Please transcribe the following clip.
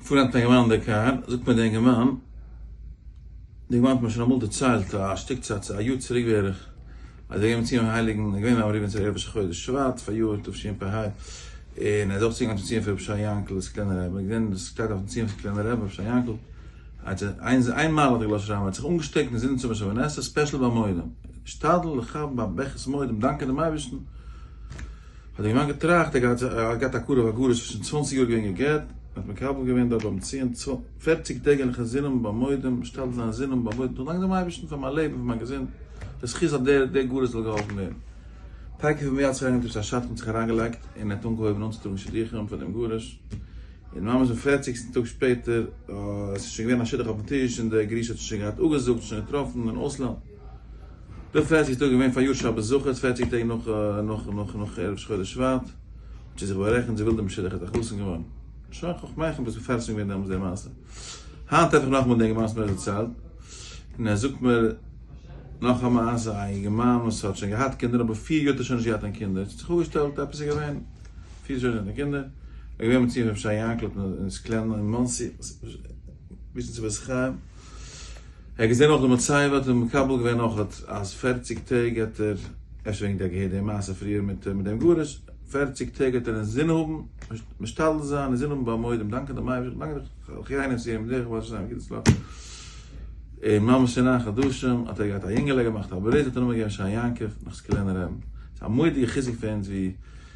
פארט נעמט א געוואנד די קאר, זאגט מיר די אינגערמאן, די געוואנד האט מיר שוין אמאל דערציילט א שטיק צייט צו א יאר צוריק בערך, אז ער איז געגאנגען צום הייליגן רבי אברהם ריבלין צו ערב ראש חודש שבט פאריאר תשפ ה, און ער איז אויך צוגעגאנגען צום ציון פון רבי שי יענקל'ס קליינע רבי, ער האט געזען עס שטייט אויפן ציון פון קליינע רבי רבי שי יענקל, אז איין מעלה האט ער געלאזט שרייבן, ער האט זיך אנגעשטעקט און זינט צום שב ו נסתר ספעשל ביי מודים, השתדל לכבד ביי ברכת מודים דאנקען דעם אייבערשטן, האט דער גמח געטראכט ער האט געהאט א קרוב א גרוש וואס איז שוין צוואנציג יאר געווען גע'גט, ער האט מקבל געווען דארט ביים ציון פערציג טעג אין חזינם במועדים משתדל זיין זינם במועדים צו דאנקען דעם אייבערשטן פאר מיין לעבן פאר מיין געזונט די זכות אז דער דער גרוש זאל געהאלפן ווערן טאקע פון מרץ אריין געטוישט א שדכן האט זיך אריינגעלייגט און ער האט אנגעהויבן אנצוטראגן שידוכים פאר דעם גרוש און ממש דעם פערציגסטן טאג שפעטער עס איז שוין געווען א שידוך אויפן טיש און דער גרוש האט שוין געהאט אפגעזאגט שוין געטראפן אין אויסלאנד. די פערציג טאג איז געווען פאר יאר שבת זכות, פערציג טעג נאך ערב ראש חודש שבט, האט זי זיך בארעכנט זי וויל דעם משודח האט א חתן געווארן, שוין חכמיך האבן עס מפרסם געווען דעמאלס די מעשה, היינט טרעף איך נאכאמאל דעם גמרא מסכת צד, און ער זאגט מיר נאך א מעשה, א יונגערמאן וואס האט שוין געהאט קינדער אבער פיר יאר האט ער שוין נישט געהאט קיין קינדער, עס האט זיך אפגעשטעלט עפעס איז געווען, פיר יאר אן קינדער, ער איז געווען מציון פון רבי שי יעקל און איז קלענער אין מאנסי, וויסן צו ווער ס'חיים. ער האט געזען אויך די מצבה האט ער מקבל געווען אויך אז פערציג טעג האט ער, אפשר וועגן די האט געהערט די מעשה פריער מיט דעם גרוש, פערציג טעג האט ער אינזין האבן משתדל זיין אינזין האבן ביי מודים דאנקען דעם אייבערשטן דאנקען די אחיינים צו אים דרך בעזרת השם גיט עס נאך און ממש אין נײַן חדשים האט ער געהאט א יונגעלע געמאכט א ברית האט ער נאמען געגעבן שאר יעקב נאך סקולענער רבי ס'איז א מודיע חיזוק פאר אונז ווי